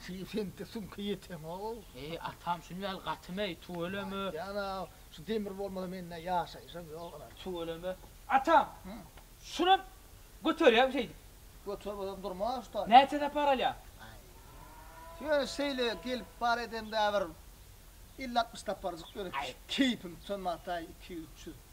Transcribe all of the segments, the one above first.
Şuny seňki süňke ýeteňow. Eý atam şuny vel gaty meý tüweleme. Jana şu demir bolmasa mende ýaşaýyşam ýok ynha. Tüweleme. Atam. Şunam göterýämi şeýdip. Göter bolsam durma şu taýda. Näçe sapar alýa. Ýöne şeýle gelip bar edemde bir elli altmyş saparjyk ýöne keýpim sönmataý iki ýüz üç ýüz.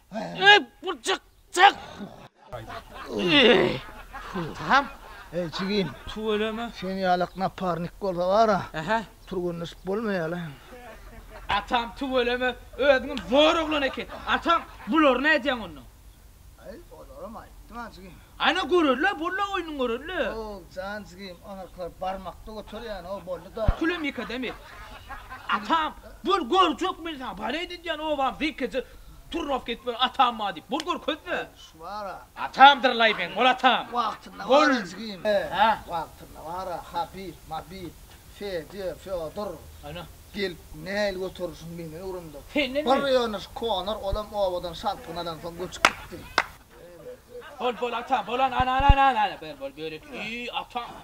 Ey, bu çyk, çyk. Tamam. Ey, jigim. Tüweleme. Sen ýalak naparnik bolsa bara. Aha. Turgunlaşyp bolmaýala. Atam tüweleme, özüňem zor oglan eken. Atam, bulary nädýäň onda? Aý, olaram aýtdym-a, jigim. Ana görerler, boldy oýnuň görerler. Hoow, jan jigim, onaklar barmakda göterýän, hoow, boldy-da. Külemik adam et. Atam, bol görjek men saňa, bal edinýän obam zeýkeje. Turrap git bir atam bar diýip. Bol görkezme. Şu bar-a. Atamdyr Laýbeň, bol atam. Wagtynda bar-a jigim. Hä? Wagtynda bar-a, Habib, Mabib, Fedýa, Fýodor. Ana. Gelip näil göterişiň menden öwrendi. Senden mi? Bir ýöneş Konor, olam obadan şarpyny alansoň göçüp gitdi. Bol, bol atam, bol, ana-ana-ana-ana, bol, bol, börek iý, atam.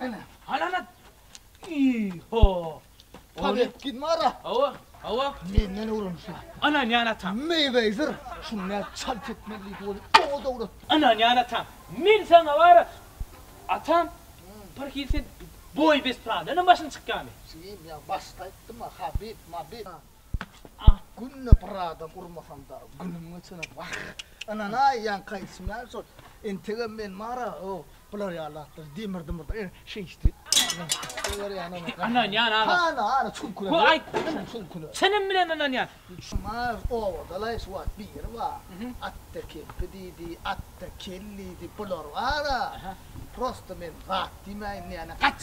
Ana. Ana ana. Iho. Paget git mara. Hawa, hawa. Menden öwrenişe. Ana ýan ata. Meýwezer şunda çalt etmeli bolup oňa dowrat. Ana ýan ata. Men saňa bara. Atam. Bir hil sen boý bes pradanam başyny çykýamy? Siz ýa başda aýtdyma habib, mabib. Ak günde bir adam urmasam dagy günüm geçene wah. Ynanaý ýaňky aýdyşym ýaly şol entegem men bara o bular ýaly zatlar demir dymyr e şeýtdi. Ynanýan agam. Hany hany çuňkura. Bu aýtdyň çuňkura. Çynym bilen ynanýan. Şuňar obadalaý şu wagt biri bar. Atda kempi diýdi, atda kel diýdi bular bara. Prosta men zat diýmäýin näne gaç.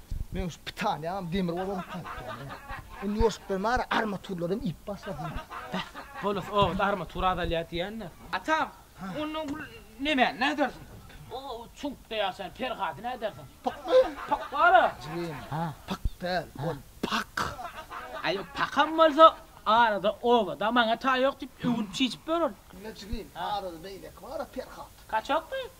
Meň şu pitaniýam demir bolany taýýar. Indi ýoşuklar bar, armaturlaram iýip başlady. Beh, bolus ogut armatur azalýar diýýänler. Atam, onda bu nemäni nädersiň? O çuňkda ýaşaýan Perhady nädersiň? Pykmy? Pyk bar-a. Jigim, pyk däl, ol pak. Aý, pakam bolsa, arada obada maňa taý ýok diýip, öwünip-çişip ýör ol. Diňle jigim, arada beýleki bar-a Perhat. Kaçakmy?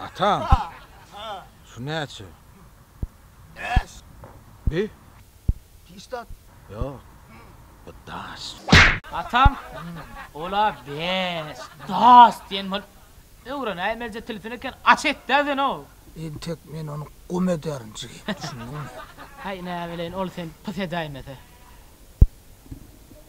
Atam. Şu näçe? Bäş. Bi? Pişdat. Ýok. Bu daş. Atam. Ol-a bäş. Daş diýen bolup öwrenäýmelije tilsin eken. Aç et-dä sen-ow. Entek men ony gum ederin jigim, düşündiňmi? Häý, näbileýin, ol seni pys edäýmese.